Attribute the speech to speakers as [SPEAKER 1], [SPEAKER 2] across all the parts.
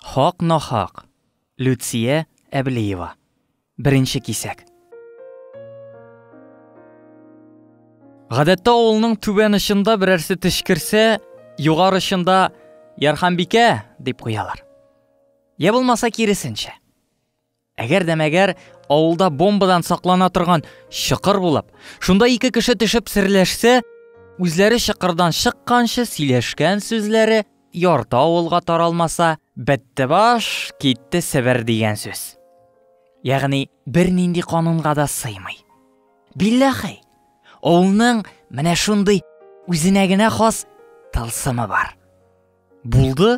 [SPEAKER 1] Хак-нахак. Люция Әблиева. Беренче кисәк. Гадәттә авылның түбән очында берәрсе тешкерсә, югар очында Ярханбикә дип куялар. Я булмаса киресенчә. Әгәр дә мәгәр авылда бомбадан саклана торган чокыр булып, шунда ике кеше төшеп серләшсә, үзләре чокырдан чыкканчы сөйләшкән сүзләре ярты авылга таралмаса, бетте баш, китте Себер дигән сүз. Ягъни бернинди канунга да сыймый. Билләхи, авылның менә шундый үзенә генә хас тылсымы бар. Булды,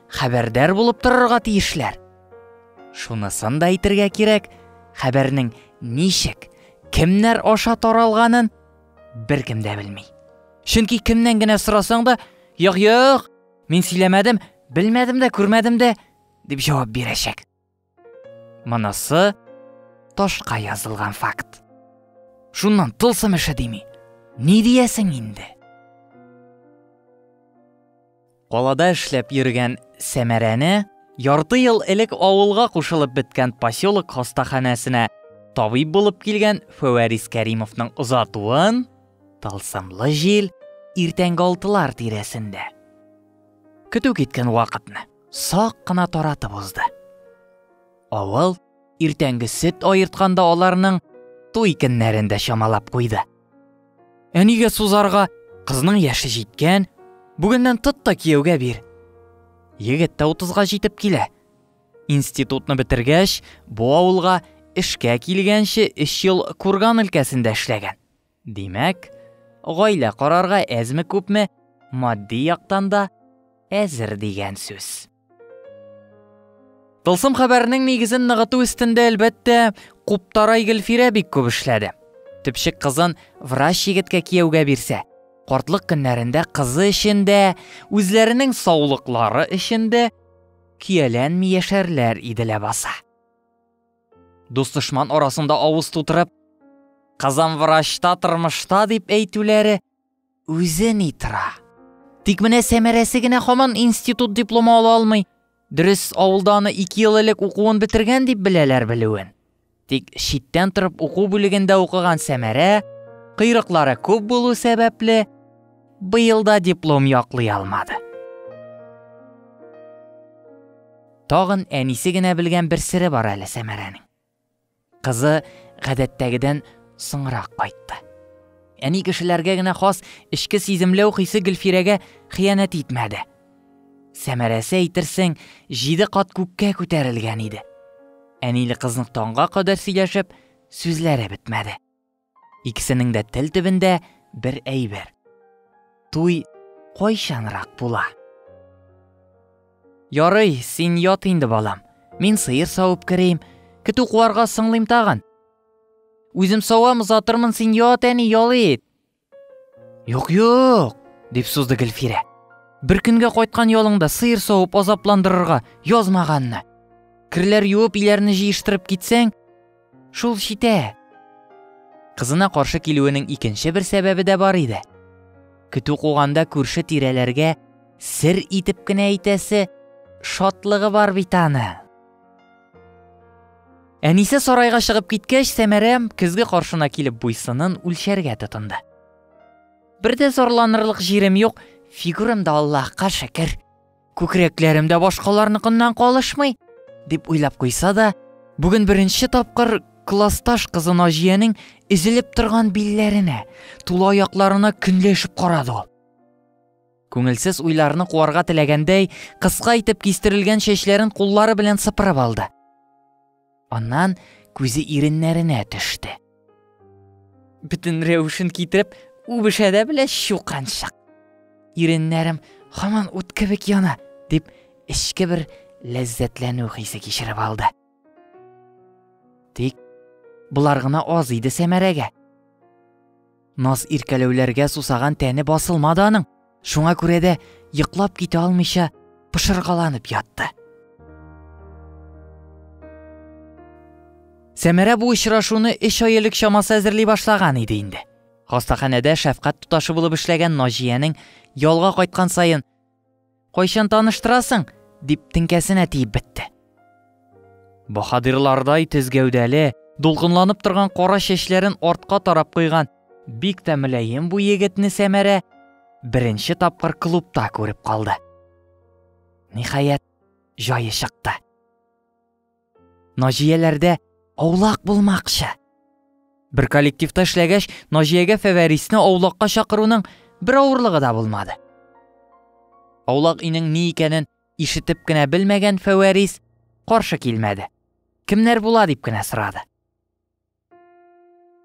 [SPEAKER 1] хәбәрдар булып торырга тиешләр. Шунысын да әйтергә кирәк, хәбәрнең ничек, кемнәр аша таралганын беркем дә белми. Чөнки кемнән генә сорасаң да, "Юк, юк, мин сөйләмәдем, белмәдем дә, күрмәдем дә" дип җавап бирәчәк. Монысы ташка язылган факт. Шуннан тылсым эше дими. Ни диясең инде? Калада эшләп йөргән Сәмәрәне ярты ел элек авылга кушылып беткән поселок хастаханәсенә табиб булып килгән Фәвәрис Кәримовның озатуын тылсымлы җил иртәнге алтылар тирәсендә. Көтү киткән вакытны. сак кына таратып узды. Авыл иртәнге сөт аертканда аларның туй көннәрен дә чамалап куйды. Әнигә сузарга кызның яше җиткән, бүгеннән тот та кияүгә бир. Егет тә утызга җитеп килә. Институтны бетергәч, бу авылга эшкә килгәнче өч ел Курган өлкәсендә эшләгән. Димәк, гаилә корарга әзме-күпме матди яктан да әзер дигән сүз. Тылсым хәбәрнең нигезен ныгыту өстендә, әлбәттә, Куптарай Гөлфирә бик күп эшләде. Төпчек кызын врач егеткә кияүгә бирсә, картлык көннәрендә кызы өчен дә, үзләренең саулыклары өчен дә көяләнми яшәрләр иде ләбаса. Дус-дошман арасында авыз тутырып, Казан врачта тормышта дип әйтүләре үзе ни тора. Тик менә сәмәрәсе генә хаман институт дипломы ала алмый. Дөрес, авылда аны 2 ел элек укуын бетергән дип беләләр белүен. Тик читтән торып уку бүлегендә укыган Сәмәрә кыйрыклары күп булу сәбәпле быелда диплом яклый алмады. Тагын әнисе генә белгән бер сере бар әле Сәмәрәнең. Кызы гадәттәгедән соңрак кайтты. Әни кешеләргә генә хас эчке сиземләү хисе Гөлфирәгә хыянәт итмәде. Сәмәрәсе әйтерсең, җиде кат күккә күтәрелгән иде. Әниле кызның таңга кадәр сөйләшеп, сүзләре бетмәде. Икесенең дә тел төбендә бер әйбер. Туй кайчанрак була? Ярый, син ят инде, балам. Мин сыер савып керим, көтү куарга соңлыйм тагын. Үзем савам, озатырмын, син ят, әни, ял ит. Юк, юк, дип сузды Гөлфирә. Бер көнгә кайткан ялыңда сыер савып азапландырырга язмаганны. Керләр юып, иләрне җыештырып китсәң, Шул читә. Кызына каршы килүенең икенче бер сәбәбе дә бар иде. Көтү куганда күрше тирәләргә сер итеп кенә әйтәсе шатлыгы бар бит аны. Әнисе сарайга чыгып киткәч, Сәмәрә көзге каршына килеп буйсынын үлчәргә тотынды. Бер дә зарланырлык җирем юк, фигурам да Аллаһка шөкер. Күкрәкләрем дә башкаларныкыннан калышмый, дип уйлап куйса да, бүген беренче тапкыр классташ кызы Наҗиянең изелеп торган билләренә, тула аякларына көнләшеп карады ул. Күңелсез уйларны куарга теләгәндәй, кыска итеп кистерелгән чәчләрен куллары белән сыпырып алды. Аннан күзе иреннәренә төште. Бөтен рәвешен китереп, үбешә дә белә чуканчык. Иреннәрем һаман ут кебек яна, дип эчке бер ләззәтләнү хисе кичереп алды. Тик болар гына аз иде Сәмәрәгә. Наз иркәләүләргә сусаган тәне басылмады аның. Шуңа күрә дә йоклап китә алмыйча пышыргаланып ятты. Сәмәрә бу очрашуны эш ай элек чамасы әзерли башлаган иде инде. Хастаханәдә шәфкать туташы булып эшләгән Наҗиянең ялга кайткан саен Кайчан таныштырасың? дип теңкәсенә тиеп бетте. Баһадирлардай тез гәүдәле, дулкынланып торган кара чәчләрен артка тарап куйган бик тә мөлаем бу егетне Сәмәрә беренче тапкыр клубта күреп калды. Ниһаять, җае чыкты. Наҗияләрдә аулак булмакчы. Бер коллективта эшләгәч, Наҗиягә Фәвәрисне аулакка чакыруның бер авырлыгы да булмады. Аулак инең ни икәнен ишетеп кенә белмәгән Фәвәрис каршы килмәде. Кемнәр була дип кенә сорады.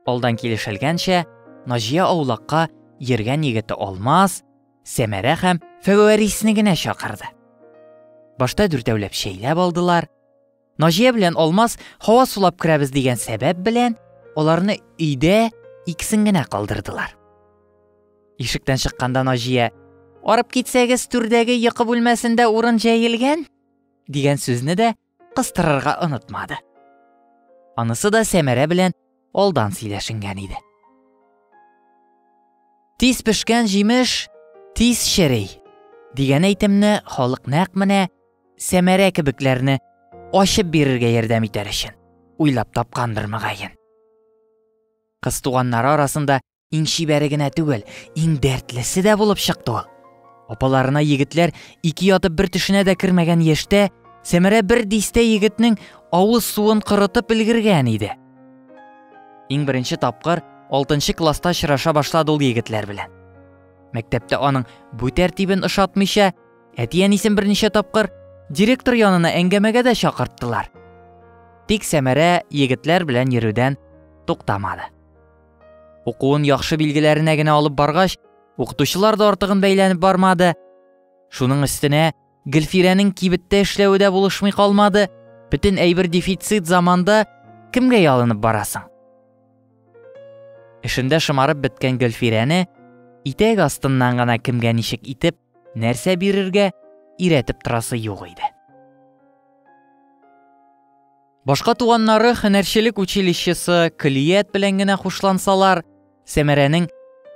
[SPEAKER 1] Алдан килешелгәнчә, Наҗия аулакка йөргән егете Алмаз, Сәмәрә һәм Фәвәрисне генә чакырды. Башта дүртәүләп чәйләп алдылар. Наҗия белән Алмаз һава сулап керәбез дигән сәбәп белән аларны өйдә икесен генә калдырдылар. Ишектән чыкканда Наҗия «Арып китсәгез, түрдәге йокы бүлмәсендә урын җәелгән» дигән сүзне дә кыстырырга онытмады. Анысы да Сәмәрә белән алдан сөйләшенгән иде. Тиз пешкән җимеш, тиз шерей. Дигән әйтемне халык нәкъ менә Сәмәрә кебекләрне ачып бирергә ярдәм итәр өчен уйлап тапкандыр мөгаен. Кыз туганнары арасында Иң чибәре генә түгел, иң дәртлесе дә булып чыкты ул. Апаларына егетләр ике ятып бер төшенә дә кермәгән яшьтә Сәмәрә бер дистә егетнең авыз суын корытып өлгергән иде. Иң беренче тапкыр 6 класста очраша башлады ул егетләр белән. Мәктәптә аның бу тәртибен ошатмыйча, әти-әнисен берничә тапкыр директор янына әңгәмәгә дә чакырттылар. Тик Сәмәрә егетләр белән йөрүдән туктамады. Укуын яхшы билгеләренә генә алып баргач, укытучылар да артыгын бәйләнеп бармады. Шуның өстенә Гөлфирәнең кибеттә эшләве дә булышмый калмады. Бөтен әйбер дефицит заманда кемгә ялынып барасың? Эшендә шымарып беткән Гөлфирәне итәк астыннан гына кемгә ничек итеп, нәрсә бирергә иретеп торасы юк иде. Башка туганнары һөнәрчелек училищесы, көллият белән генә хушлансалар, Сәмәрәнең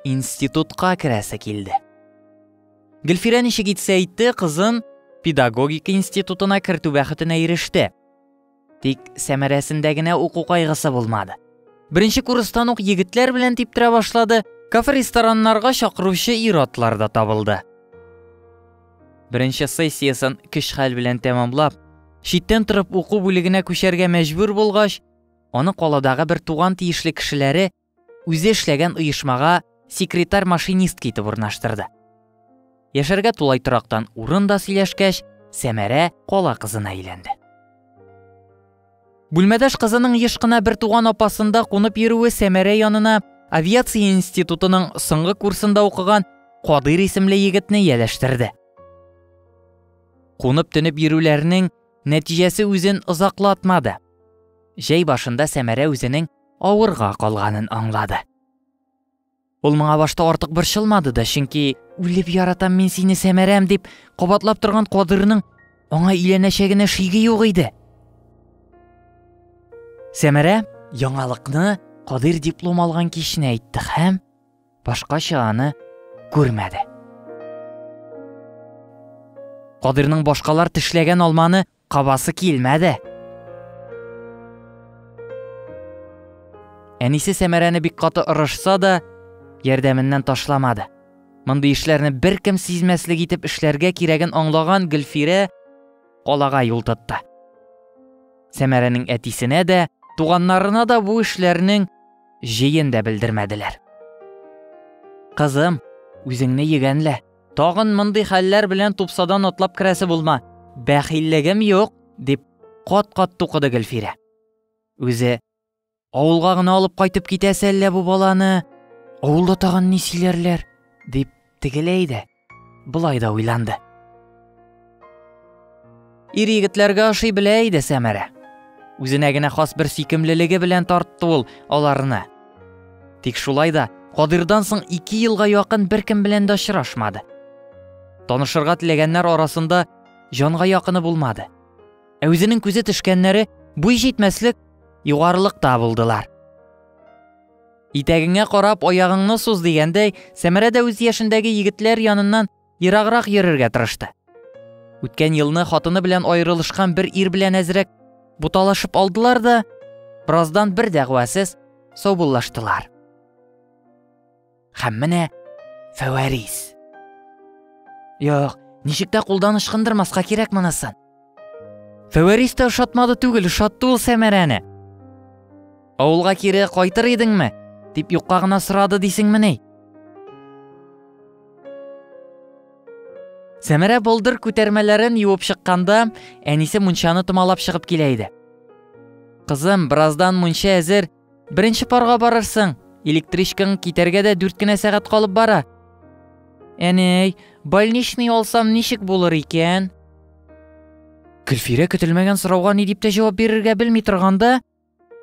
[SPEAKER 1] институтка керәсе килде. Гөлфирә ничек итсә итте, кызын педагогик институтына кертү бәхетенә иреште. Тик сәмәрәсендә генә уку кайгысы булмады. Беренче курстан ук егетләр белән типтерә башлады, кафе-рестораннарга чакыручы ир-атлар да табылды. Беренче сессиясен көч-хәл белән тәмамлап, читтән торып уку бүлегенә күчәргә мәҗбүр булгач, аны каладагы бер туган тиешле кешеләре үзе эшләгән оешмага секретарь-машинистка итеп урнаштырды. Яшәргә тулай торактан урын да сөйләшкәч, Сәмәрә кала кызына әйләнде. Бүлмәдәш кызының еш кына бер туган апасында кунып йөрүе Сәмәрә янына авиация институтының соңгы курсында укыган Кадыйр исемле егетне ияләштерде. Кунып төнеп йөрүләрнең нәтиҗәсе үзен озаклатмады. Җәй башында Сәмәрә үзенең авырга калганын аңлады. Ул моңа башта артык борчылмады да, чөнки үлеп яратам мин сине Сәмәрәм дип кабатлап торган Кадырның аңа өйләнәчәгенә шиге юк иде. Сәмәрә яңалыкны Кадыр диплом алган кичне әйтте һәм башкача аны күрмәде. Кадырның башкалар тешләгән алманы Кабасы килмәде. Әнисе Сәмәрәне бик каты орышса да, ярдәменнән ташламады. Мондый эшләрне беркем сизмәслек итеп эшләргә кирәген аңлаган Гөлфирә калага юл тотты. Сәмәрәнең әтисенә дә, туганнарына да бу эшләрнең җыен да белдермәделәр. Кызым, үзеңне егәнлә, Тагын мондый хәлләр белән тупсадан атлап керәсе булма. Бәхиллегем юк, дип кат-кат тукыды Гөлфирә. Үзе авылга гына алып кайтып китәсе әллә бу баланы? Авылда тагын ни сөйләрләр? дип тегеләй дә, былай да уйланды. Ир егетләргә ашый белә иде Сәмәрә. Үзенә генә хас бер сөйкемлелеге белән тартты ул аларны. Тик шулай да Кадирдан соң ике елга якын беркем белән дә очрашмады. Танышырга теләгәннәр арасында җанга якыны булмады. Ә үзенең күзе төшкәннәре буй җитмәслек югарылыкта булдылар. Итәгеңә карап аягыңны суз дигәндәй, Сәмәрә дә үз яшендәге егетләр яныннан Ераграк йөрергә тырышты. Үткән елны хатыны белән аерылышкан бер ир белән әзрәк буталашып алдылар да, бераздан бер дәгъвасыз саубуллаштылар. Һәм менә Фәвәрис. Юк, ничек тә кулдан ычкындырмаска кирәк монысын. Фәвәрис тә ошатмады түгел, ошатты ул Сәмәрәне. Авылга кире кайтыр идеңме? дип юкка гына сорады дисеңмени? Сәмәрә болдыр күтәрмәләрен юып чыкканда, әнисе мунчаны томалап чыгып килә иде. Кызым, бераздан мунча әзер, Беренче парга барырсың. Электричкаң китәргә дә дүрт кенә сәгать калып бара. Әнәй, больничный алсам ничек булыр икән? Гөлфирә көтелмәгән сорауга ни дип тә җавап бирергә белми торганда,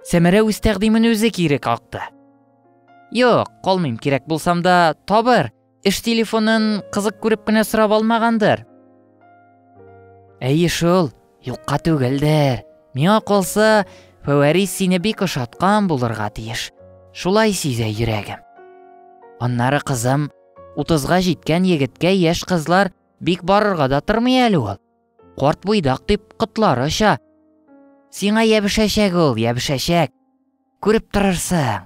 [SPEAKER 1] Сәмәрә үз тәкъдимен үзе кире какты. Юк, калмыйм, кирәк булсам да табыр. Эш телефонын кызык күреп кенә сорап алмагандыр. Әйе шул, юкка түгелдер. Миңа калса, Фәвәрис сине бик ошаткан булырга тиеш. Шулай сизә йөрәгем. Аннары кызым, утызга җиткән егеткә яшь кызлар бик барырга да тормый әле ул. Карт буйдак дип котлары оча. Сиңа ябышәчәк ул, ябышәчәк. Күреп торырсың.